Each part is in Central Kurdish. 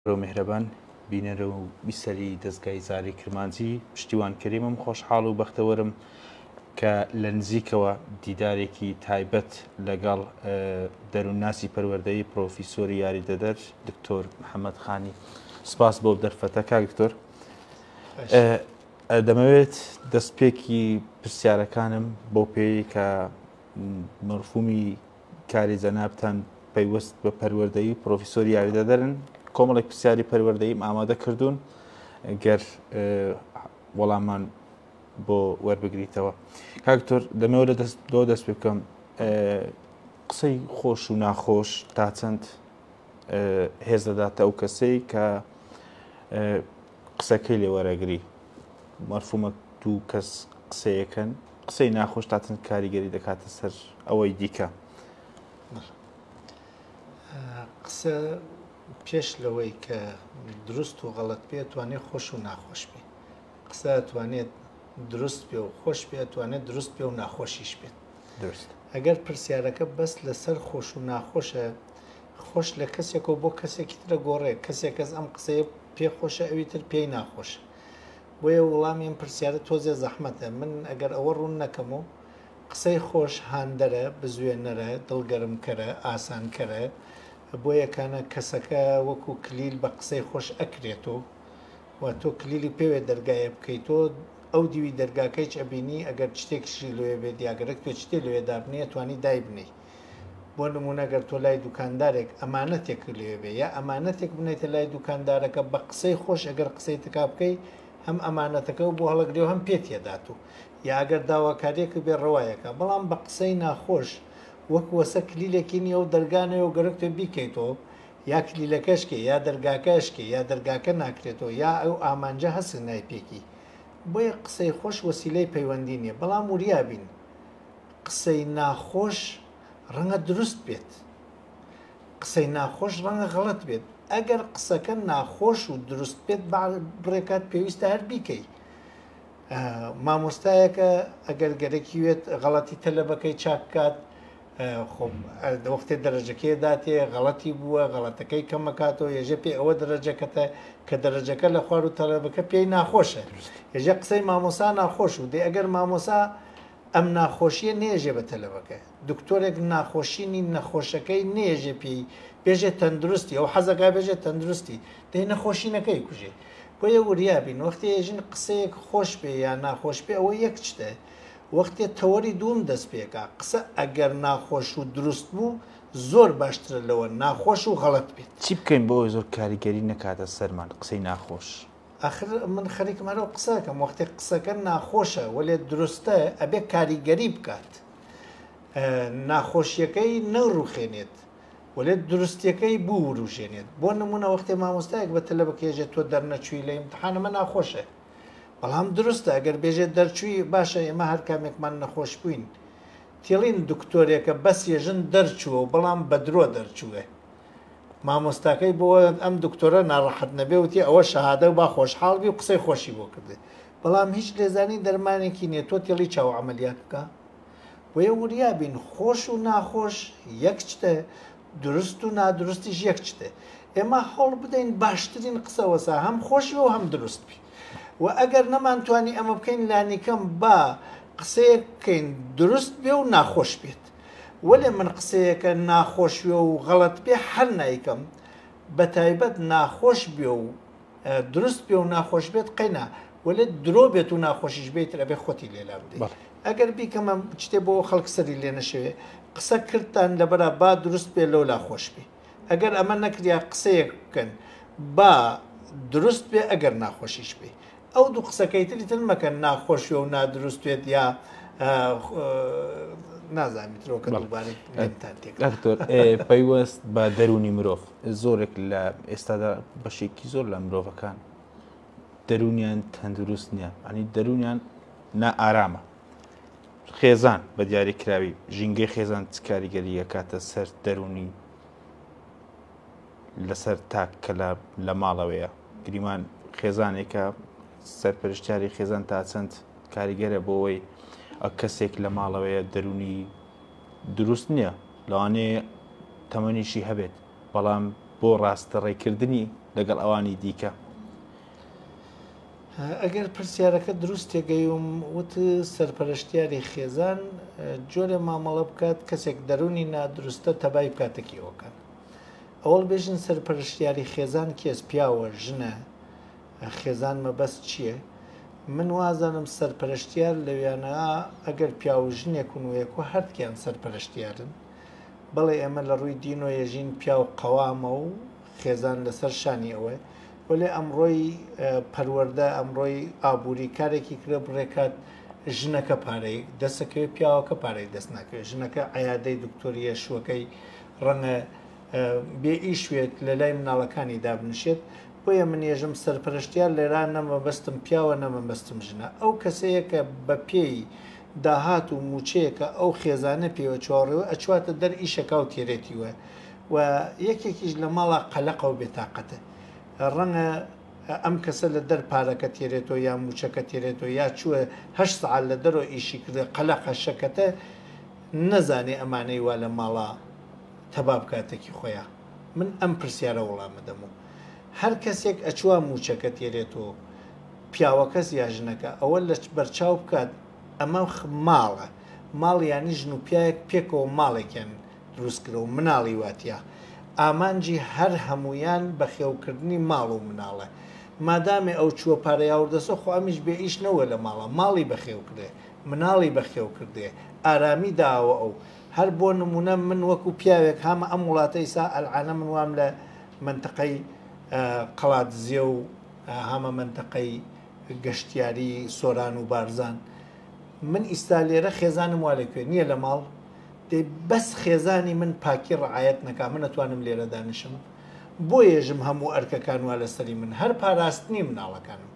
و میهرەبان بینەر و بیسەری دەزگای زاری کرمانجی پشتیوان کەریمم خۆشحاڵ و بەختەوەرم کە لە نزیکەوە دیدارێکی تایبەت لەگەڵ دەروونناسی پەروەردەی پرۆفیسۆری یاریدەدەر دکتۆر محەممەد خانی سپاس بۆ دەرفەتە کاک دکتۆر دەمەوێت دەستپێکی پرسیارەکانم بۆ پێی کە مەرفومی کاری جەنابتان پەیوەست بە پەروەردەی پرۆفیسۆری یاریدەدەرن کۆمەڵێک پرسیاری پەروەردەیم ئامادە کردوون گەر وەڵامان بۆ وەربگریتەوە کاکتۆر دەمەوە لە دەست دۆ دەست پێ بکەم قسەی خۆش و ناخۆش تا چەند هێز دەداتە ئەو کەسەی کە قسەکەی لێ وەرەگری مەرفومە دوو کەس قسەیەکەن قسەی ناخۆش تاتن کاریگەری دەکاتە سەر ئەوەی دیکە قسە پێش لەوەی کە دروست و غەڵت پێ توانێت خۆش و ناخۆش پێ قسە توانێت دروست پێ و خۆش پێ توانێت دروست پێ و ناخۆشیش بێت درست ئەگەر پرسیارەکە بەس لەسەر خۆش و ناخۆشە خۆش لە کەسێکەوە بۆ کەسێکی تر ئەگۆڕێ، کەسێ کەس ئەم قسەیە پێ خۆشە ئەوی تر پێی ناخۆشە. بۆیە وڵامی ئەم پرسیارە تۆزێ زەحمەتە. من ئەگەر ئەوە ڕوون نەکەم و قسەی خۆش هاندەرە، بزوێنەرە، دڵگەرمکەرە، ئاسانکەرە، بۆ یەکانە کەسەکە وەکوو کلیل بە قسەی خۆش ئەکرێتۆ و تۆ کلیلی پێوێ دەرگایێ بکەیتۆ، ئەو دیوی دەرگاکەیچ ئەبینی ئەگەر چتێکیشی لۆێ بێ دیاگەرەک توێ چتێ لۆێ دابنێی ئەتوانی دایبنێی. بۆ نمونە گەر تۆ لای دوکاندارێک ئەمانەتێک لێبێ یا ئەمانەتێک بنێتە لای دوکاندارەکە بە قسەی خۆش ئەگەر قسەی تکا بکەی هەم ئەمانەتەکە و بۆ هەڵگرێ و هەم پێت یەدات و یاگەر داواکاریەکە بێ ڕەوایەکە بەڵام بە قسەی ناخۆش وەک وەسە کلیلێکی نیە و دەرگانەیە و گەرک تۆ بیکەیتەوە یا کلیلەکەشکێ یا دەرگاکەشکێ یا دەرگاکە ناکرێتەوە یا ئەو ئامانجە هەسک نایپێکی بۆیە قسەی خۆش وەسیلەی پەیوەندی نیە بەڵام وریابین قسەی ناخۆش ڕەنگە دروست بێت قسەی ناخۆش ڕەنگە غەڵەت بێت ئەگەر قسەکە ناخۆش و دروست بێت بڕێکات پێویستە هەر بیکەی مامۆستایەکە ئەگەر گەرەکیوێت غەڵەتی تەلەبەکەی چاکات خۆم دەوەختێ دەرەجەکەی داتێ غەڵەتی بووە غەڵەتەکەی کەمەکاتەوە یەژە پێ ئەوە دەرەجەکەتە کە دەرەجەکە لە خوار و تەلەبەکە پێی ناخۆشە یەژە قسەی مامۆسا ناخۆش و دێ ئەگەر مامۆسا ئەم ناخۆشیە نێژێ بە تەلەبەکە دکتۆرێک ناخۆشی نی نەخۆشەکەی نێژێ پێی بێژێ تەندروستی ئەو حەزەکە بێژێ تەندروستی دەی نەخۆشی نەکەی کوژێ بۆیە وریابین وەختێ ژن قسەیەک خۆش پێ یا ناخۆش پێ ئەوە یەک شتە وەختێ تەوەری دووم دەست پێکا قسە ئەگەر ناخۆش و دروست بوو زۆر باشترە لەوە ناخۆش و غەڵەت بێت. چی بکەین بۆ ئەوەی زۆر کاریگەری نەکاتە سەرمان قسەی ناخۆش؟ ئاخر من خەریکم هەرو قسەکەم وەختێک قسەکە ناخۆشە وەێ دروستە ئەبێ کاریگەری بکات ناخۆشیەکەی نەڕوخێنێت وەێ دروستەکەی بوو وروژێنێت بۆ نمونە وەختێ مامۆستایەک بە تەلە بکێژێت تۆ دەرنەچووی لە امتحانەمە ناخۆشە بەڵام دروستە گەر بێژێت دەرچووی باشە ئێمە هەر کامێکمان نەخۆش بووین تێڵین دکتۆرێکە بەس یەژن دەرچووە و بەڵام بەدرۆ دەرچووێ مامۆستاکەی بۆ ئەم دکتۆرە ناڕەحەت نەبێ وتی ئەوە شەهادە و با خۆشحاڵ بی و قسەی خۆشی بۆ کردێ بەڵام هیچ لێزانی دەرمانێکی نیە تۆ تێڵی چاو عملیات بکە بۆیە وریابین خۆش و ناخۆش یەک شتە درست و نادرستیش یەک شتێ ئێمە هەوڵ بدەین باشترین قسەوەسا هەم خۆشی و هەم دروست بی و ئەگەر نەمانتوانی ئەمە بکەین لانیکەم با قسەیەک بکەین دروست بێ و ناخۆش بێت وەلێ من قسەیەکە ناخۆش وێ و غەڵەت بێ حەل نایکەم بە تایبەت ناخۆش بێ و دروست بێ و ناخۆش بێت قەینا وەلێ درۆ بێت و ناخۆشیش بێت ئەبێ خۆتی لێلا بدەیت ئەگەر بیکەمە شتێ بۆ خەڵک سەری لێ نەشەوێ قسە کردتان لەبەرە با دروست بێ لەولا خۆش بێ ئەگەر ئەمە نەکریا قسەیەک بکەن با دروست بێ ئەگەر ناخۆشیش بێ ئەو دوو قسەکەی تری تر مەکەن ناخۆشی و نادروست بێت یا نازانیت ترۆکە دکتۆر پەیوەست بە دەرونی مرۆڤ زۆرێک لە ئێستادا بەشێکی زۆر لە مرۆڤەکان دەرونیان تەندروست نییە ئەنی دەرونیان نائارامە خێزان بە دیاری کراوی ژینگەی خێزان چ کاریگەری یەکاتە سەر دەرونی لەسەر تاک کە لە ماڵەوەیە گریمان خێزانێکە سەرپەرشتیاری خێزان تا چەند کاریگەرە بۆەوەی ئەو کەسێک لە ماڵەوەیە دەرونی دروست نییە لەوانێ تەمەنیشی هەبێت بەڵام بۆ ڕاستە ڕێکردنی لەگەڵ ئەوانی دیکە ئەگەر پرسیارەکە دروست تێگەیوم وت سەرپەرشتیاری خێزان جۆرێ مامەڵە بکات کەسێک دەرونی نادروستە تەبای بکاتەکیەوەکان ئەوڵ بێژن سەرپەرشتیاری خێزان کێس پیاوە ژنە خێزان مەبەست چییە؟ من وازانم سەرپەرشتیار لەویانە ئەگەر پیاو ژنێک و نوێک و هەردکیان سەرپەرشتیارن بەڵێ ئێمە لە ڕووی دین و یەژین پیاو قەوامە و خێزان لەسەر شانی ئەوەیە وەلێ ئەمڕۆی پەروەردە ئەمڕۆی ئابووری کارێکی کرێ بڕێکات ژنەکە پارەی دەسەکەوێت پیاوەکە پارەی دەست ناکەوێت ژنەکە عیادەی دکتۆریە شوەکەی ڕەنگە بێ ئیشوێت لە لای مناڵەکانی دابنشێت بۆیە من ێژم سەرپەرشتیان لێرا نەمە بەستم پیاوە نەمە بەستم ژنە ئەو کەسەیە کە بە پێی داهات و موچەیەکە ئەو خێزانە پێوە چاڕێوە ئەچواتە دەر ئیشەکە و تێرێتی وە و یەکێکیش لە ماڵە قەلەقەو بێتاقەتە ڕەنگە ئەم کەسە لە دەر پارەکە تێرێتۆ یا موچەکە تێرێتۆ یا چووە هەشت سەعات لە دەرۆ ئیشی کردە قەلەقە شەکەتە نەزانێ ئەمانەی وا لە ماڵە تەبا بکاتەکی خۆیا من ئەم پرسیارە وڵامەدەم و هەر کەسێک ئەچووە موچەکە تێرێتۆ پیاوەکەس یا ژنەکە ئەوە لە بەرچاو بکات ئەمە ماڵە ماڵ یانی ژن و پیاەک پێکەوە ماڵێکیان دروستکرە و مناڵی وا تیا، ئامانجی هەر هەموویان بەخێوکردنی ماڵ و مناڵە. مادامێ ئەو چووە پارەیاوردەسە خۆ ئەمیش بێ ئیش نەوە لە ماڵا، ماڵی بەخێوکرێ، مناڵی بەخێوکردێ، ئارامی داوە ئەو. هەر بۆ نموونە من وەکوو پیاوێک هامە ئەم وڵاتە ئیسا ئەلعانە من وام لە مەنتەقەی قەڵادزێ و هامە مەنتەقەی گەشتیاری سۆران و بارزان من ئیستا لێرە خێزانم وا لە کوێ نییە لە ماڵ دەی بەس خێزانی من پاکی ڕەعایەت نەکا من ئەتوانم لێرە دانیشم؟ بۆ یەژم هەموو ئەرکەکان وا لەسەری من هەر پاراستنی مناڵەکانم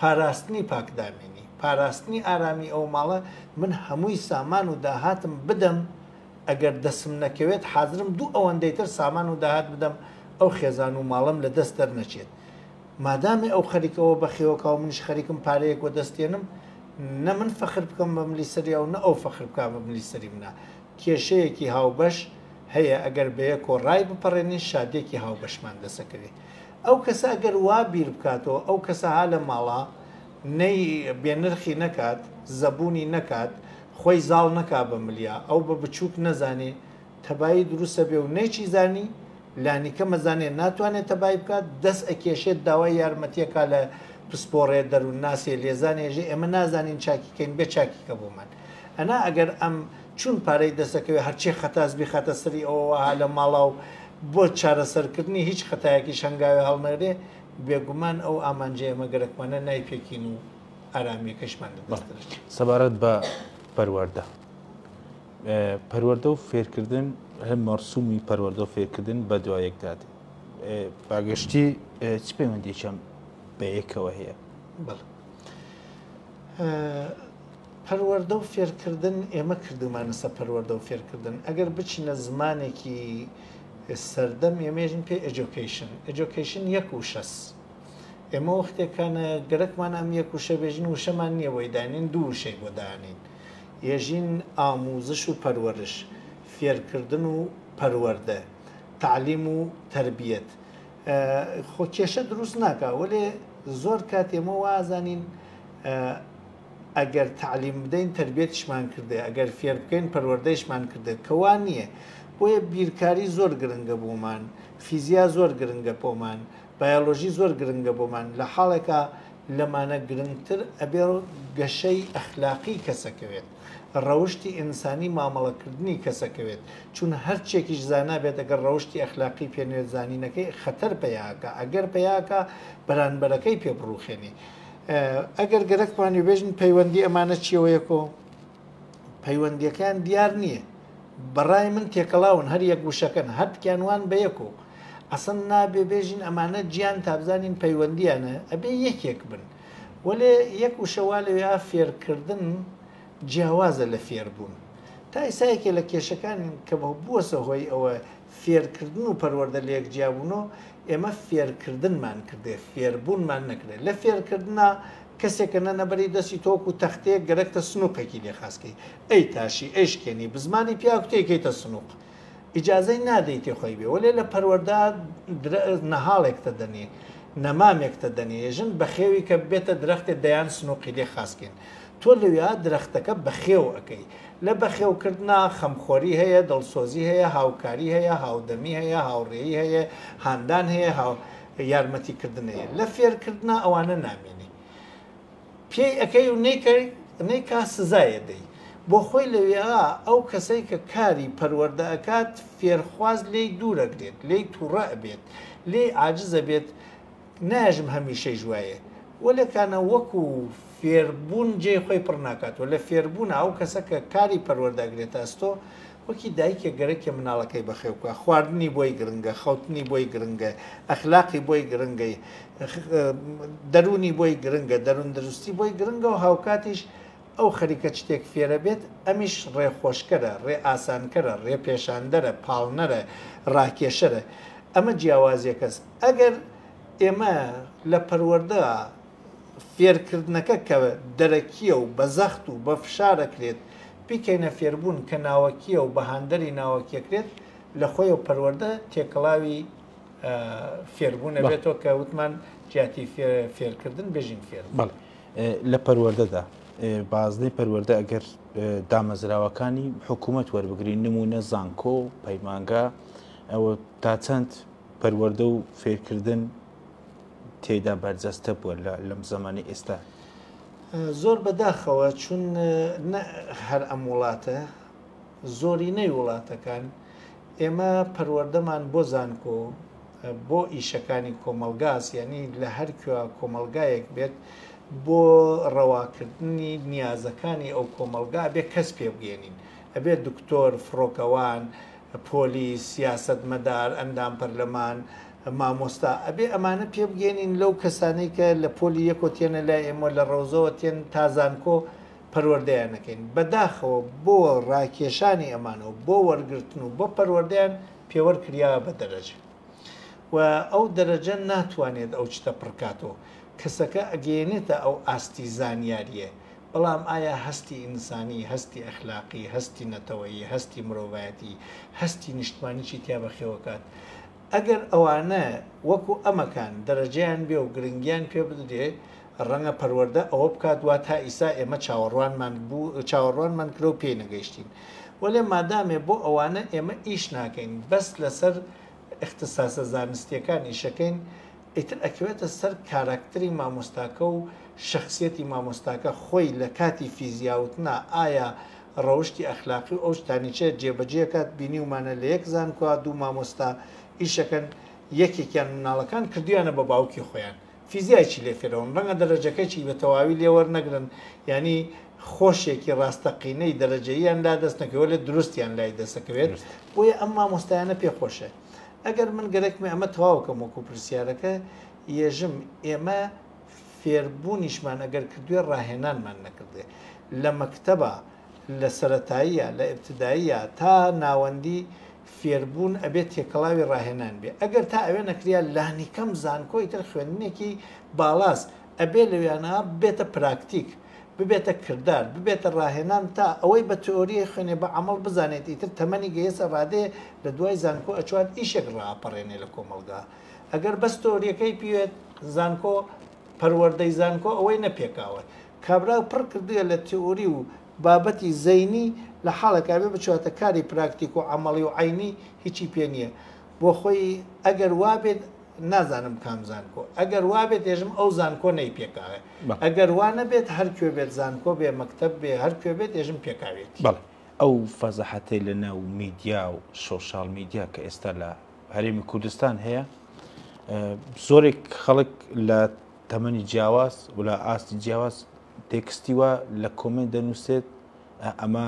پاراستنی پاکدامینی پاراستنی ئارامی ئەو ماڵە من هەمووی سامان و داهاتم بدەم ئەگەر دەسم نەکەوێت حازرم دوو ئەوەندەی تر سامان و داهات بدەم ئەو خێزان و ماڵەم لە دەست دەرنەچێت مادامی ئەو خەریکە ئەوە بەخێوکا و منیش خەریکم پارەیەک وەدەستێنم نە من فەخر بکەم بە ملی سەریا و نە ئەو فەخر بکا بە ملی سەری منە کێشەیەکی هاوبەش هەیە ئەگەر بەیەکۆ ڕای بپەڕێنین شادێکی هاوبەشمان دەسەکەوێ ئەو کەسە ئەگەر وا بیر بکاتەوە ئەو کەسە ها لە ماڵا نەی بێنرخی نەکات زەبوونی نەکات خۆی زاڵ نەکا بە ملیا ئەو بە بچووک نەزانێ تەبایی دروسەبێ و نەیچیزانی لانیکەم ئەزانێت ناتوانێت تەبایی بکات، دەست ئەکێشێت داوای یارمەتی ئەکات لە پسپۆڕێ، دەروونناسێ، لێزانێ ئێژێ ئێمە نازانین چاکی کەین بێ چاکی کە بۆمان ئەنا ئەگەر ئەم چون پارەی دەست ئەکەوێت هەرچێ خەتاس بیخاتە سەری ئەوە وەها لە ماڵا و بۆ چارەسەر کردنی هیچ خەتایەکیش هەنگاوێ هەڵنەگرێ بێگومان ئەو ئامانجەی ئێمە گەرەکمانە نایپێکین و ئارامیەکەشمان لە دەست دەرەچێت. سەبارەت بە پەروەردە. پەروەردە و فێرکردن هەم مەرسومی پەروەردە و فێرکردن بە دوایەکدا دێ باگەشتی چ پەیوەندێکم بە یەکەوە هەیە پەروەەردە و فێرکردن ئێمە کردومانە سە پەروەەردە و فێرکردن ئەگەر بچینە زمانێکی سەردەم ئێمێژن پێ ئەجۆکەیشن ئەجۆکەیشن یەک و شەس ئێمە وەختێکانە گەرەکمان ئەم یەک وشە بێژن وشەمان نییە بۆی دانین دوو وشەی بۆ دانین یەژین ئاموزش و پەروەرش، فێرکردن و پەروەردە، تەعلیم و تەربیەت، ە، خۆ کێشە دروست ناکا، وەلێ زۆر کات ئێمە وا ئەزانین ئەگەر تەعلیم بدەین تەربیەتیشمان کردێ، ئەگەر فێر بکەین پەروەردەیشمان کردێت، کە وا نییە، بۆیە بیرکاری زۆر گرنگە بۆمان، فیزیا زۆر گرنگە پۆمان، بایۆلۆژی زۆر گرنگە بۆمان، لە حاڵێکا لەمانە گرنگتر ئەبێ گەشەی ئەخلاقی کەسەکەوێت، ڕەوشتی ئینسانی مامەڵەکردنی کەسەکەوێت، چون هەرچێکیش زانا بێت ئەگەر ڕەوشتی ئەخلاقی پێ نەوێت زانینەکەی خەتەر پەیا ئەکا ئەگەر پەیا ئەکا بەرانبەرەکەی پێ بڕوخێنی ئەگەر گەرەکمان وێبێژن پەیوەندی ئەمانە چیەوەیەکۆ پەیوەندیەکەیان دیار نییە بەڕای من تێکەڵاون هەر یەک وشەکەن هەردکیان وان بە یەک و ئەسن نابێ بێژین ئەمانە گیان تابزانین پەیوەندیانە ئەبێ یەکێک بن وەێ یەک وشەوا لەوێ فێرکردن جیاوازە لە فێربوون تا ئیسایەکێ لە کێشەکان کە بووەسە هۆی ئەوە فێرکردن و پەروەردە لەیەک جیابوونو ئێمە فێرکردنمان کردێ فێربوونمان نەکردێ لە فێرکردنا کەسێک کە نەنە بەری دەستی تۆ وەکو تەختەیەک گەرەکتە سنوقێکی لێ خاس کەی ئەی تاشی ئەی شکێنی بزماری پیاوک تێی کەیتە سنوق ئیجازەی نادەی تێ خۆی بێ وەلێ لە پەروەردا نەهاڵێکتە دەنێ نەمامێکتە دەنێ ژن بەخێوی کە بێتە درەختێ دەیان سنوقی لێ خاس کەین تۆ لەوێا درەختەکە بەخێو ئەکەی. لە بەخێو کردنا خەمخۆری هەیە، دڵسۆزی هەیە، هاوکاری هەیە، هاودەمی هەیە، هاوڕێی هەیە، هاندان هەیە، هاو یارمەتی کردن هەیە. لە فێر کردنا ئەوانە نامینی. پێی ئەکەی و نەیکەی نەیکا سزای ئەدەی. بۆ خۆی لەوێا ئەو کەسەی کە کاری پەروەردە ئەکات فێرخواز لێی دوور ئەگرێت، لێی تووڕە ئەبێت، لێی عاجز ئەبێت، ناژم هەمیشەیش وایە وەلێ کانە وەکو فێربوون جێی خۆی پڕ ناکات و لە فێربوونا ئەو کەسە کە کاری پەروەردە ئەگرێتە ئەستۆ وەکی دایکێک گەرەکیە مناڵەکەی بەخێو بکا خواردنی بۆی گرنگە خەوتنی بۆی گرنگە ئەخلاقی بۆی گرنگە دەروونی بۆی گرنگە دەروون دروستی بۆی گرنگە و هاوکاتیش ئەو خەریکە شتێک فێرە بێت، ئەمیش ڕێخۆشکەرە، ڕێ ئاسانکەرە، ڕێ پێشاندەرە، پاڵنەرە، ڕاکێشەرە. ئەمە جیاوازیەکەس. ئەگەر ئێمە لە پەروەردە فێرکردنەکە کە دەرەکیە و بە زەخت و بە فشارەکرێت بیکەینە فێربوون کە ناوەکیە و بە هاندەری ناوەکیەکرێت لە خۆیەوە پەروەردە تێکەڵاوی فێربوون ئەبێتەوە کە وتمان جیاتی فێرکردن بێژین فێربوون. لە پەروەردەدا بازنەی پەروەردە ئەگەر دامەزراوەکانی حکوومەت وەربگرین نمونە زانکۆ و پەیمانگا ئەوە تا چەند پەروەردە و فێرکردن تێدا بەرجەستە بووە لەم زمانی ئێستا زۆر بەداخەوە چون هەر ئەم وڵاتە زۆرینەی وڵاتەکان ئێمە پەروەردەمان بۆ زانکۆ بۆ ئیشەکانی کۆمەلگاس یعنی لە هەرکوێ کۆمەلگایەک بێت بۆ ڕەواکردنی نیازەکانی ئەو کۆمەلگا بێ کەس پێ بگەێنین ئەبێ دکتۆر فڕۆکەوان پۆلیس سیاست مەدار ئەندام پەرلەمان مامۆستا ئەبێ ئەمانە پێ بگەێنین لەو کەسانەی کە لە پۆلی یەکۆتیەنە لای ئێمە لە ڕەوزەوە تێن تازانکۆ پەروەردەیان نەکەین بەداخەوە بۆ ڕاکێشانی ئەمانە و بۆ وەرگرتن و بۆ پەروەردەیان پێوەر کریاوە بە دەرەجە و ئەو دەرەجە ناتوانێت ئەو چتە پڕکاتەوە کەسەکە ئەگەیەنێتە ئەو ئاستی زانیاریە بەڵام ئایا هەستی ئینسانی هەستی ئەخلاقی هەستی نەتەوەیی هەستی مرۆڤایەتی هەستی نیشتمانی چی تیا بەخێوەکات ئەگەر ئەوانە وەکو ئەمەکان دەرەجەیان بێ و گرنگیان پێ بدرێ ڕەنگە پەروەردە ئەوە بکات وا تا ئیسا ئێمە چاوەڕوانمان بوو چاوەڕوانمان کرا و پێی نەگەیشتین وەلێ مادامێ بۆ ئەوانە ئێمە ئیش ناکەین بەس لەسەر ئیختساسە زانستیەکان ئیشەکەین ئیتر ئەکەوێتە سەر کاراکتری مامۆستاکە و شەخسیەتی مامۆستاکە خۆی لە کاتی فیزیا وتنا ئایا ڕەوشتی ئەخلاقی و ئەو شتانی چێ جێبەجێ ئەکات بینیومانە لە یەک زانکۆا دوو مامۆستا ئیشەکەن یەکێکیان مناڵەکان کردویانە بە باوکی خۆیان فیزیای چی لێ فێرەون ڕەنگە دەرەجەکەچی بە تەواوی لێ وەرنەگرن یانی خۆشێکی ڕاستەقینەی دەرەجەییان لا دەست نەکەوێت لێ دروستیان لای دەسەکەوێت بۆیە ئەم مامۆستایانە پێ خۆشێ ئەگەر من گەرەکمە ئەمە تەواوکەم وەکو پرسیارەکە یێژم ئێمە فێربوونیشمان ئەگەر کردوێ ڕاهێنانمان نەکردێ لە مەکتەبە لە سەرەتاییە لە ابتدائیە تا ناوەندی فێربوون ئەبێ تێکەڵاوی ڕاهێنان بێ ئەگەر تا ئەوێ نەکریا لانیکەم زانکۆی تر خوێندنێکی باڵاس ئەبێ لەوێانا بێتە پراکتیک ببێتە کردار ببێتە ڕاهێنان تا ئەوەی بە تئۆریی خوێنێ بە عەمەڵ بزانێت ئیتر تەمەنی گەیەسە ڕادەیە لە دوای زانکۆ ئەچوات ئیشێک ڕاپەڕێنێ لە کۆمەڵگا ئەگەر بەس تئۆریەکەی پیوێت زانکۆ پەروەردەی زانکۆ ئەوەی نەپێکاوە کابرای پڕ کردوویە لە تیئوری و بابەتی زەینی لە حاڵێک ئەبێ بچواتە کاری پراکتیک و عەمەڵی و عەینی هیچی پێ نیە بۆ خۆی ئەگەر وابێت نازانم کام زانکۆ ئەگەر وابێت ئێژم ئەو زانکۆ نەی پێکاوێ ئەگەر وا نەبێت هەر کوێ بێت زانکۆ بێ مەکتەب بێ هەر کوێ بێت ئێژم پێکاوێت بەڵێ ئەو فەزەحەتەی لە ناو میدیا و سۆشال میدیا کە ئێستا لە هەرێمی کوردستان هەیە زۆرێک خەڵک لە تەمەنی جیاواز و لە ئاستی جیاواز تێکستی وا لە کۆمێنت دەنووسێت ئەمە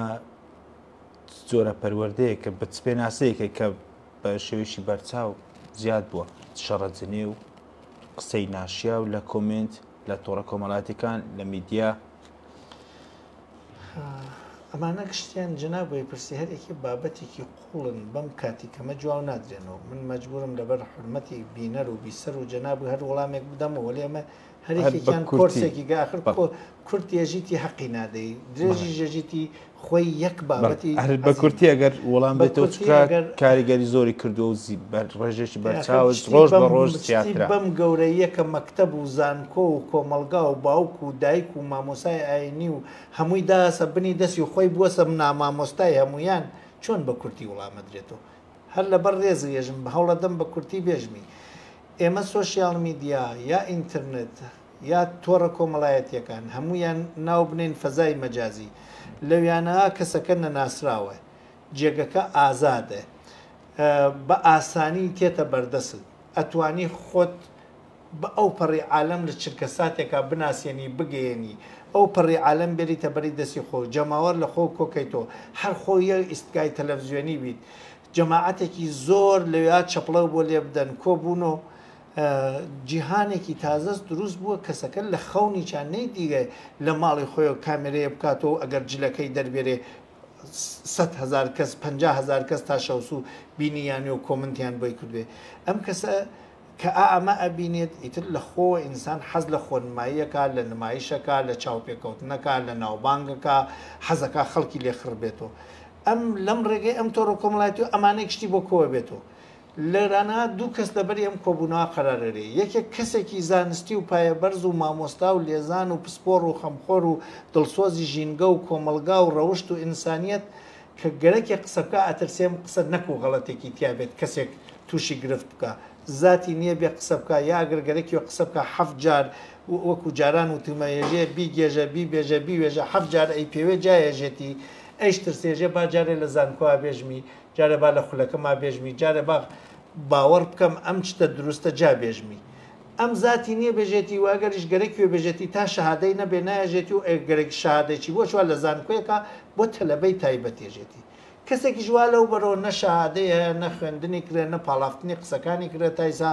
جۆرە پەروەردەیە کە بە پێناسەیەکە کە بە شێوەیەکی بەرچاو زیاد بووە شەڕەجنێ و قسەی ناشیا و لە کۆمنت لە تۆڕە کۆمەڵاتەکان لە میدیا ئەمانە گشتیان جەناب وەی پرسی هەر ئێکی بابەتێکی قوڵن بەم کاتی کەمە جواو نادرێنەوە من مەجبورم لەبەر حورمەتی بینەر و بیسەر و جەناب هەر وەڵامێک بدەمەوە وەلی ئەمە هەر هەر یەکێکیان بەکورتی. کۆرسێکی گە ئاخر بەڵێ. کۆ- کورت یەژیتی حەقی نادەی درێژی ژەژیتی خۆی یەک بەڵێ بابەتی هەر عەزیمە. بەکورتی ئەگەر وەڵام بە بێتەوە کورتی چکە ئەگەر- کاریگەری زۆری کردووە و زی بەر ڕێژێکی یاخی بەرچاوە شتی ڕۆژ بە بەم ڕۆژ شتی زیاترە بەم گەورەییە کە مەکتەب و زان کۆ و کۆمەڵگا و باوک و دایک و مامۆسای ئاینی و هەمووی داهسە بنی دەستی و خۆی بوەسە منامامۆستای هەموویان چۆن بە کورتی وڵامەدرێتۆ هەر لەبەر ڕێز ێژم بهەوڵەدەم بە کورتی بێژمی ئێمە سۆشیال میدیا یا ئینترنت یا تۆڕە کۆمەڵایەتیەکان هەموویان ناو بنێن فەزای مەجازی لەویانەا کەسەکە نەناسراوە جێگەکە ئازادە بە ئاسانی تێتە بەردەست ئەتوانی خۆت بە ئەو پەڕی عالەم لە چرکەساتێکا بناسێنی بگەیەنی ئەو پەڕی عالەم بێریتە بەری دەستی خۆ و جەماوەر لە خۆو کۆ کەیتۆ هەر خۆو یەک ئیستگای تەلەفزیۆنی بیت جەماعەتێکی زۆر لەوێا چەپڵەو بۆ لێ بدەن کۆ بوونۆ جیهانێکی تازەس دروست بووە کەسەکە لە خەونیچا نەیدیە لە ماڵی خۆیەو کامێرەیە بکاتۆ و ئەگەر جلەکەی دەربێرێ سەد هەزار کەس پەنجا هەزار کەس تا شەوسوو بینی یانێ و کۆمنتیان بۆی کردوێ ئەم کەسە کە ئا ئەمە ئەبینێت ئیتر لە خۆوە ئینسان حەز لە خۆنماییەکا، لە نمایشەکا، لە چاوپێکەوتنەکا، لە ناوبانگەکا، حەزەکا خەڵکی لێ خڕ بێتۆ. ئەم لەم ڕێگەی ئەم تۆڕە کۆمەڵایەتی و ئەمانەی گشتی بۆ کۆە بێتۆ. لێرانە دوو کەس لە بەری ئەم کۆبوونەوە قەرار ئەرێ. یەکێک کەسێکی زانستی و پایە بەرز و مامۆستا و لێزان و پسپۆڕ و خەمخۆر و دڵسۆزی ژینگە و کۆمەڵگا و ڕەوشت و ئینسانیەت کە گەرەکێ قسە بکا ئەترسێم قسە نەکو غەڵەتێکی تیا بێت کەسێک توشی گرفت بکا زاتی نیە بێ قسە بکا یا گەر گەرەکیە قسە بکا حەفت جار وەکو جاران وتومە یەژێ بیگێژە بیبێژە بیوێژە حەفت جار ئەی پێوێ جا یەژێتی ئەیش ترسێ ژێ با جارێ لە زانکۆا بێژمی جارێ با لە خولەکەما بێژمی جارێ با باوەڕ بکەم ئەم چتە دروستە جا بێژمی ئەم زاتی نیە بێژێتی وە ئەگەریش گەرەکی بێ بێژێتی تا شەهادەی نەبێ نایەژێتی و ئەگەر گەرەکی شەهادەی چی بۆ چوار لە زانکۆیەکا بۆ تەلەبەی تایبەت یەژێتی کەسێکیش وا لەو بەرەوە نە شەهادەی هەیە نە خوێندنی کرێ نە پاڵافتنی قسەکانی کرێ تا ئیسا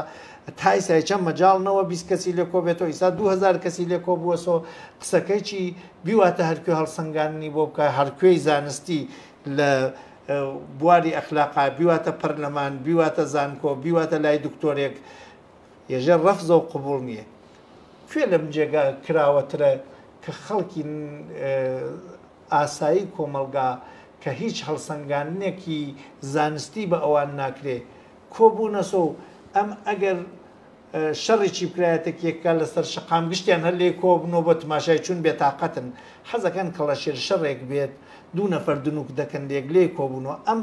تا ئیسا هیچە مەجاڵ نەوە بیست کەسی لێ کۆ بێتەوە ئیسا دوو هەزار کەسی لێ کۆ بووەسۆ قسەکەی چی بیواتە هەر کوێ هەڵسەنگاندنی بۆ بکا هەر کوێی زانستی لە بواری ئەخلاقا بیواتە پەرلەمان بیواتە زانکۆ بیواتە لای دکتۆرێک یەژێ ڕەفزە و قبوڵ نیە. کوێ لەم جێگا کراوەترە کە خەڵکی ئاسایی کۆمەڵگا کە هیچ هەڵسەنگاندنێکی زانستی بە ئەوان ناکرێ کۆبوونەسە و ئەم ئەگەر شەڕێکی بکرا یەتەکیەکە لە سەر شەقام گشتیان هەر لێ کۆبنەوە بە تماشای چون بێتاقەتن حەزەکەن کەڵەشێر شەڕێک بێت دوو نەفەر دنووک دەکەن لێک لێ کۆبوونەوە ئەم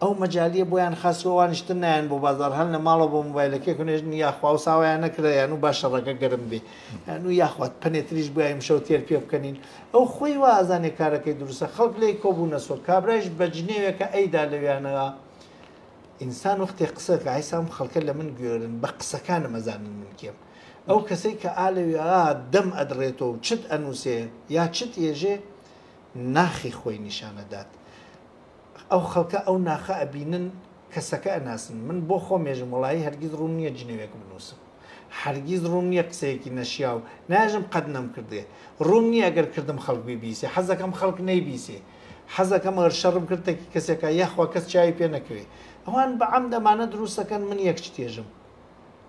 ئەو مەجالیە بۆیان خاس و ئەوانیش تر نایەن بۆ بازاڕ هەن لە ماڵەوە بە مۆبایلەکەی خونێژن یاخوا و ساوایان نەکرا یان و با شەڕەکە گەرم بێ یان و یاخوا پەنێ تریش بۆ ئیمشەو تێر پێ بکەنین ئەو خۆی وا ئازانێ کارەکەی دروستە خەڵک لێی کۆبوونە سۆ کابرایش بە جنێوێکە ئەیدا لەویانەوە ئینسان وەختێ قسە کە عیسام خەڵکە لە من گوێرن بە قسەکانم ئەزانن من کێم ئەو کەسەی کە ئالەوێ دەم ئەدڕێتەوە و چت ئەنووسێ یا چت ئێژێ ناخی خۆی نیشانەدات ئەو خەڵکە ئەو ناخە ئەبینن کەسەکە ئەناسن من بۆ خۆمێژم وەڵایی هەرگیز ڕووم نییە جنێوێک بنووسم هەرگیز ڕووم نییە قسەیەکی نەشیاو ناژم قەت نەمکردێ ڕووم نییە گەر کردم خەڵک بیبیسێ حەزەکەم خەڵک نەیبیسێ حەزەکەم ئەگەر شەڕم کرد تەکی کەسێکا یاخوا کەس چاوی پێ نەکەوێ ئەوان بەعەمد ئەمانە دروستەکەن من یەک چتێژم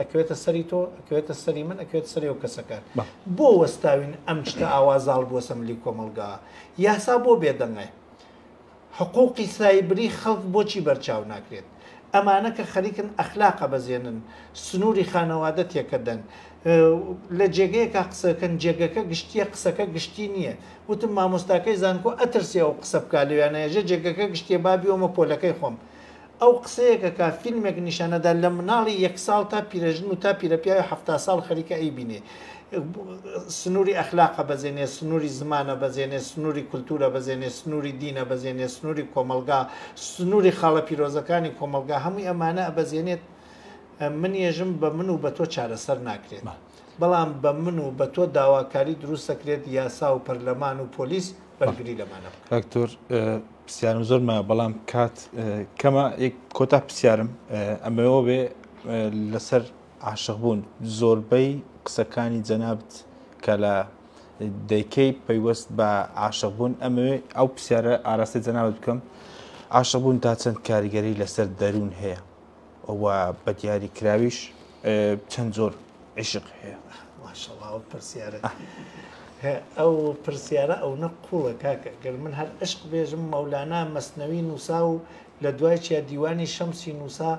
ئەکەوێتە سەری تۆ ئەکەوێتە سەری من ئەکەوێت سەری و کەسەکان بۆ وەستاوین ئەم شتە ئاوا زاڵ بووە سەملی کۆمەلگا یاسا بۆ بێدەنگە حقوقی سایبری خەڵک بۆچی بەرچاو ناکرێت ئەمانە کە خەریکن ئەخلاقە بەزێنن سنووری خانەوادە تێکەدەن لە جێگەیەکە قسەکەن جێگەکە گشتیە قسەکە گشتی نییە وتم مامۆستاکەی زانکۆ ئەترسێ و قسە بک لەویانەیەژە جێگەکە گشتێ بابیەوەمە پۆلەکەی خۆم ئەو قسەیەکە کە فیلمێک نیشان ئەدا لە مناڵی یەک ساڵ تا پیرەژن و تا پیرەپیاوی حەفتا ساڵ خەریکە ئەیبینێ سنووری ئەخلاقە بەزێنێ سنووری زمانە بەزێنێ سنووری کولتوورە بەزێنێ سنووری دینە بەزێنێ سنووری کۆمەڵگا سنووری خاڵە پیرۆزەکانی کۆمەڵگا هەمووی ئەمانە ئەبەزێنێت من یەژم بە من و بە تۆ چارەسەر ناکرێت بەڵام بە من و بە تۆ داواکاری دروستەکرێت یاسا و پەرلەمان و پۆلیس بەرگری لەمانە بکە. پرسیارم زۆر مایە بەڵام کات کەمە کۆتا پرسیارم ئەمەوە بێ لەسەر عاشق بوون زۆربەی قسەکانی جەنابت کە لە دەیکەی پەیوەست بە عاشق بوون ئەمەوێ ئەو پرسیارە ئاراستەی جەنابت بکەم عاشق بوون تا چەند کاریگەری لەسەر دەروون هەیە و بە دیاری کراویش چەند جۆر عیشق هەیە ماشەڵڵا ئەو پرسیارە ئەو پرسیارە ئەو نە قوڵە کاکە گەر من هەر عشق بێژم مەولانا مەسنەوی نووسا و لە دوای چیا دیوانی شەمسی نووسا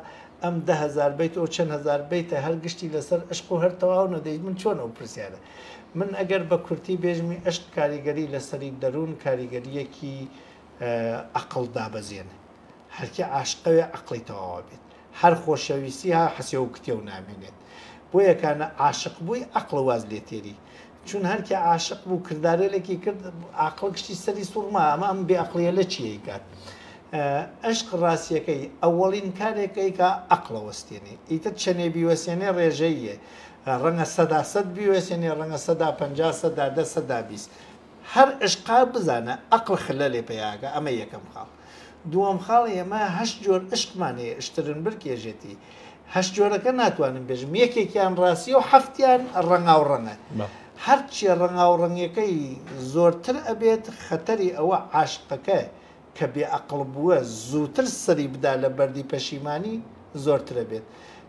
ئەم دههزار بیت ئەو چەند هزار بیتە هەر گشتی لەسەر عشق و هەر تەواو نەدەیت من چۆن ئەو پرسیارە من ئەگەر بە کورتی بێژمی عشق کاریگەری لەسەری دەروون کاریگەریەکی ئەقڵ دابەزێنێ هەرکێ عاشقەوێ ئەقڵی تەواوە بێت هەر خۆشەویستی ها حەسێ و کتێو نامێنێت بۆیە کانە عاشق بووی ئەقڵ واز لێ تێری چون هەرکێ عاشق بوو کردارێلێکی کرد ئاقڵ گشتی سەری سوڕما ئەمە ئەم بێ ئەقڵیە لە چیەی کات ئەشق ڕاستیەکەی ئەوەڵین کارێکەکەی کە ئەقڵە وەستێنێ ئیتر چەنێ بیوەسێنێ ڕێژەیە ڕەنگە سەدا سەد بیوەسێنێ ڕەنگە سەدا پ سەدا دە سەدا بیست هەر ئشقە بزانە ئەقڵ خلە لێ پەیاکە ئەمە یەکەم خاڵ دووەم خاڵ ئێمە هەشت جۆر ئشقمان هەیە ئشترنبرگ یەژێتی هەشت جۆرەکە ناتوانم بێژم یەکێکیان ڕاستیە و حەفتیان ڕەنگاو ڕەنگە هەرچیە ڕەنگاو ڕەنگەکەی زۆرتر ئەبێت خەتەری ئەوە عاشقەکە کە بێ ئەقڵ بووە زووتر سەری بدا لە بەردی پەشیمانی زۆرترە بێت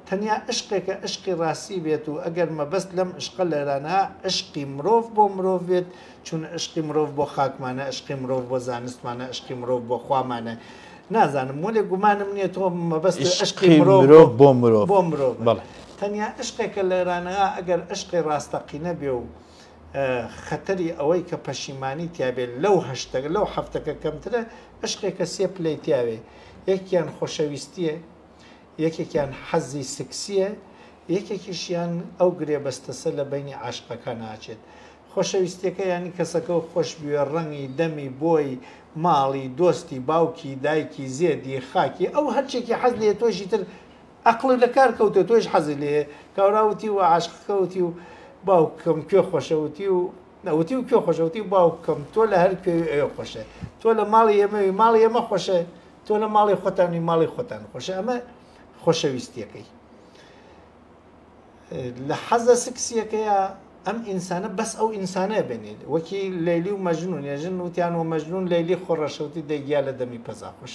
تەنیا ئەشقێکە ئەشقی ڕاستی بێت و ئەگەر مەبەست لەم ئەشقە لەرانە ئەشقی مرۆڤ بۆ مرۆڤ بێت چون ئەشقی مرۆڤ بۆ خاکمانە ئەشقی مرۆڤ بۆ زانستمانە ئەشقی مرۆڤ بۆ خوامانە نازانم وەلێ گومانم نیە تۆ مەبەست ئەشقی مرۆڤ بۆ مرۆڤ بۆ مرۆڤ بەڵێ تەنیا ئەشقێکە لەرانە ئەگەر ئەشقی ڕاستەقینە بێ و خەتەری ئەوەی کە پەشیمانی تیابێ لەو هەشتەکە لەو حفتەکە کەمترە عشقێکە سێ پلەی تیاوێ یەکیان خۆشەویستیە یەکێکیان حەزی سکسیە یەکێکیشیان ئەو گرێبەستەسە لە بینی عاشقەکە ناچێت خۆشەویستەکە ینی کەسەکە و خۆش بوێ ڕەنگی دەمی بۆی ماڵی دۆستی باوکی دایکی زێدی خاکی ئەو هەرچێکی حەز لێ تۆشی تر ئەقڵت لە کار کەوتووە تۆیش حەزت لێیە کاورا وتی و عاشقەکە وتی و باوکم کوێ خۆشە وتی و نەوتی و کوێ خۆشە وتی و باوکم تۆ لە هەر کوێوی ئەوێ خۆشە تۆ لە ماڵی ئێمەوی ماڵی ئێمە خۆشە تۆ لە ماڵی خۆتانی ماڵی خۆتان خۆشە ئەمە خۆشەویستیەکەی لە حەزە سکسیەکەیە ئەم ئینسانە بەس ئەو ئینسانە بێنێت وەکی لەلی و مەژنون ێژن وتیان و مەژنون لەلی خۆڕەشەوتی دەگیا لە دەمی پەزاخۆش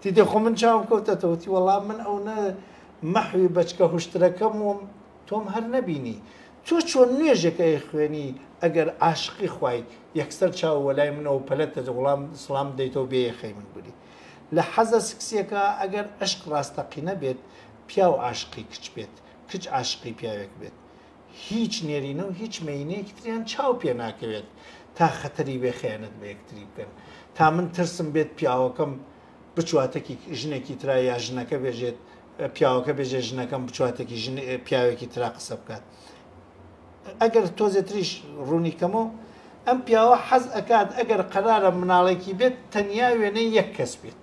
تی دە خۆ من چاوم کەوتەتەوە تی وەڵا من ئەونە مەحوی بەچکە هوشترەکەم وم تۆم هەر نەبینی تۆ چۆن نوێژێک ئەی خوێنی ئەگەر عاشقی خوای یەکسەر چاو وەلای منەوە پەلە تەجە وڵام سڵام دەیتەوە بێ یەخەی من گولی لە حەزە سکسیەکە ئەگەر عشق ڕاستەقینە بێت پیاو عاشقی کچ بێت کچ عاشقی پیاوێک بێت هیچ نێرینە و هیچ مێینەیەکی تریان چاو پێ ناکەوێت تا خەتەری بێ خیانەت بە یەکتری بکەن تا من ترسم بێت پیاوەکەم بچواتێکی ژنێکی ترا یا ژنەکە بێژێت پیاوەکە بێژێ ژنەکەم بچواتێکی ژن پیاوێکی ترا قسە بکات ئەگەر تۆزێ تریش ڕوونی کەمەوە ئەم پیاوە حەز ئەکات ئەگەر قەرارە مناڵێکی بێت تەنیا وێنەی یەک کەس بێت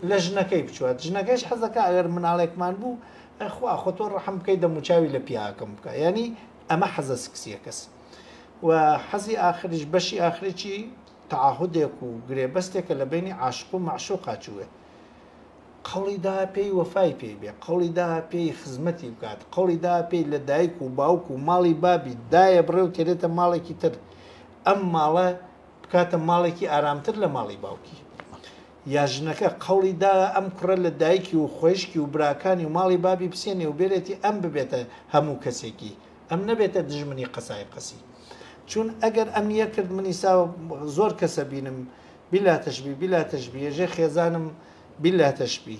لە ژنەکەی بچوات ژنەکەش حەزەکە ئەگەر مناڵێکمان بوو ئە خوا خۆ تۆ ڕەحم بکەی دەموچاوی لە پیاکەم بکە یعنی ئەمە حەزە سکسیەکەس و حەزی ئاخریش بەشی ئاخرێکی تعهدێک و گرێبەستێکە لە بینی عاشق و معشوقا چوێت قەڵیدا پێی وەفای پێی بێ قەڵیدا پێی خزمەتی بکات قەڵیدا پێی لە دایک و باوک و ماڵی بابی دایە بڕێ و تێرێتە ماڵێکی تر ئەم ماڵە بکاتە ماڵێکی ئارامتر لە ماڵی باوکی یا ژنەکە قەوڵی دایە ئەم کوڕە لە دایکی و خوەیشکی و براکانی و ماڵی بابی بسێنێ و بێرێتی ئەم ببێتە هەموو کەسێکی ئەم نەبێتە دژمنی قەسای قەسی چوون ئەگەر ئەم یە کرد منی ساوە زۆر کەسە بینم بیلا تەشبی بیلا تەشبی یەژێ خێزانم بیلا تەشبی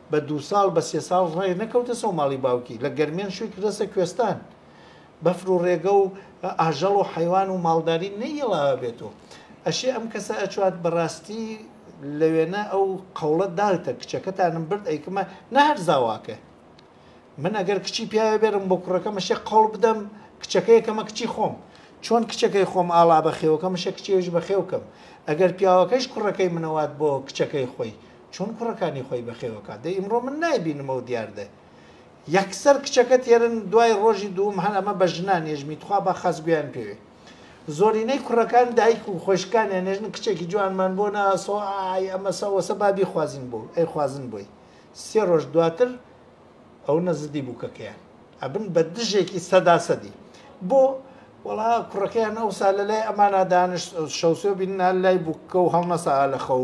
بە دوو ساڵ بە سێ ساڵ ڕێ نەکەوتە سەو ماڵی باوکی لە گەرمێن شووی کردەسە کوێستان بەفر و ڕێگە و ئاژەڵ و حەیوان و ماڵداری نەیڵاوە بێت و ئەشێ ئەم کەسە ئەچوات بەڕاستی لەوێنە ئەو قەوڵە داوتە کچەکەتانم برد ئەیکمە نەهەر زاواکە من ئەگەر کچی پیاوێ بێرم بۆ کوڕەکە مەشێ قەوڵ بدەم کچەکەیەکەمە کچی خۆم چۆن کچەکەی خۆم ئاڵا بەخێوەکە مشە کچێویش بەخێوکەم ئەگەر پیاوەکەش کوڕەکەی منەوات بۆ کچەکەی خۆی چۆن کوڕەکانی خۆی بەخێو کات دەی ئیمڕۆ من نایبینمەوە دیار دەی یەکسەر کچەکە تێرن دوای ڕۆژی دووم هەر ئەمە بە ژنان نێژمی تخوا با خاس گوێیان پێوێ زۆرینەی کوڕەکان دایک و خۆشکانیان نێژن کچێکی جوانمان بۆ ناسۆ ئای ئەمە سەوەسە بابی خوازین بۆ ئەی خوازن بۆی سێ ڕۆژ دواتر ئەو نەزدی بووکەکەیان ئەبن بە دژێکی سەدا سەدی بۆ وڵا کوڕەکەیان ئەو سا لە لای ئەمانە دانش شەوسێ بیننا لای بووکە و هەڵنەسا لە خەو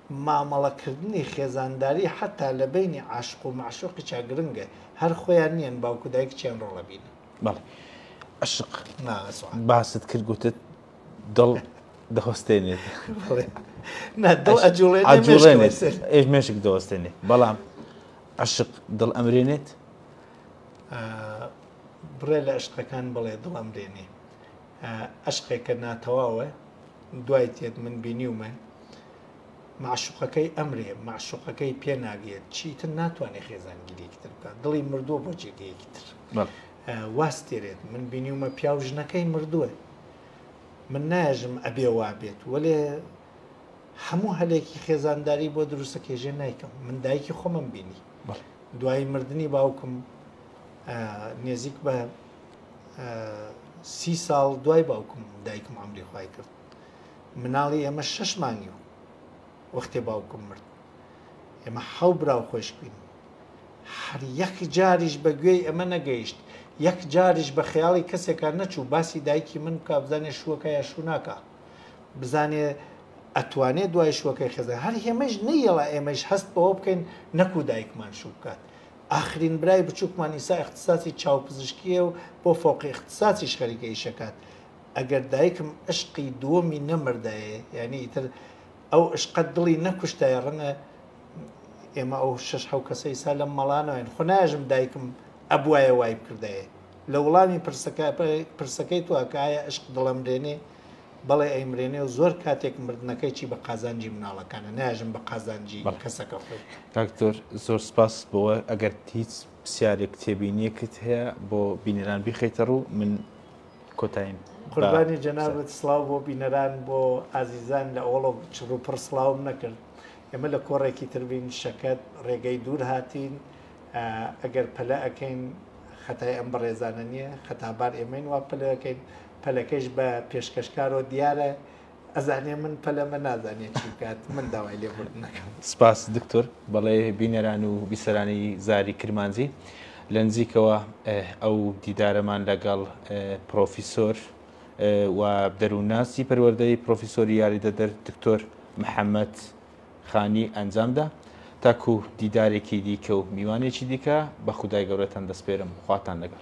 مامەڵەکردنی خێزانداری حەتا لە بەینی عاشق و مەعشوقیشا گرنگە، هەر خۆیان نیەن باوک و دایکیان ڕۆڵ ئەبینن. بەڵێ عەشق باست کرد گوتت دڵ دەوەستێنێت. بەڵێ نا دڵ ئەجوڵێنێت ئێش مێشک دەوەستێنێ بەڵام عەشق دڵ ئەمرێنێت؟ بڕێ لە عەشقەکان بڵێ دڵ ئەمرێنێ. عەشقێکە ناتەواوە دوای تێت من بینیومە مەعشوقەکەی ئەمرێ مەعشوقەکەی پێ ناگرێت چیتر ناتوانێت خێزانگیرێکی تر بکات دڵی مردووە بۆ جێگەیەکی تر واست تێرێت من بینیومە پیاو ژنەکەی مردووە من ناژم ئەبێ وا بێت وەێ هەموو هەلێکی خێزانداری بۆ دروستە کێژێ نایکەم من دایکی خۆمم بینی دوای مردنی باوکم نێزیک بە سی ساڵ دوای باوکم دایکم ئەمری خی کرد مناڵی ئێمە شش مانگی و وەختێ باوکم مرد ئێمە حەو برا و خۆش بین هەر یەک جاریش بە گوێی ئەمە نەگەیشت یەک جاریش بە خەیاڵی کەسێکە نەچوو باسی دایکی من بک بزانێ شوەکە یا شووناکە بزانێ ئەتوانێت دوای شوەکەی خێزان هەر هێمەش نەیەڵە ئێمەش هەست بەوە بکەین نەکو دایکمان شوو بکات ئاخرین برای بچوکمان ئیسا ئیختساسی چاوپزشکیە و بۆ فەوقی ئیختساسیش خەریکە ئیش ئەکات ئەگەر دایکم ئەشقی دووەمی نەمردایێ یانی ئیتر ئەو ئشقە دڵی نەکوشتایە ڕەنگە ئێمە ئەو شەش حەو کەسە ئیسا لەم مەڵا نەواین خۆ نایەژم دایکم ئەبوایە وای بکردایێ لە وڵامی پرسەکە پرسەکەی تۆ کە ئایا ئشق دڵەمرێنێ بەڵێ ئەیمرێنێ و زۆر کاتێک مردنەکەیی بە قازانجی مناڵەکانە ناژن بە قازانجی کەسەکە خۆی دکتۆر زۆر سپاس بۆە ئەگەر هیچ پرسیارێک تێبینیەکت هەیە بۆ بینەران بیخیتە ڕوو من کۆتایم قوربانی جەنابەت سلااو بۆ بینەران بۆ ئازیزان لە ئۆڵۆ چڕوپڕ سلااوم نەکرد ئێمە لە کۆڕێکی تربین شەکەت ڕێگەی دوور هاتین ئەگەر پەلە ئەەکەین خەتای ئەم بەڕێزانە نییە خەتابار ئێمەین وا پلەکەین پەلەکەیش بە پێشکەشکارەوە دیارە ئەزانێ من پەلەمە نازانێت چی بکات من داوای لێبوردنەکەم سپاس دکتۆر بەڵێ بینەران و بیسەرانی زاری کرمانجی لە نزیکەوە ئەو دیدارەمان لەگەڵ پرۆفیسۆر و دەروونناسی پەروەردەی پرۆفیسۆری یاریدەدەر دکتۆر محەممەد خانی ئەنجامدا تاکو دیدارێکی دیکە و میوانێکی دیکە بە خودای گەورەتان دەستپێرم خواتان لەگەڵ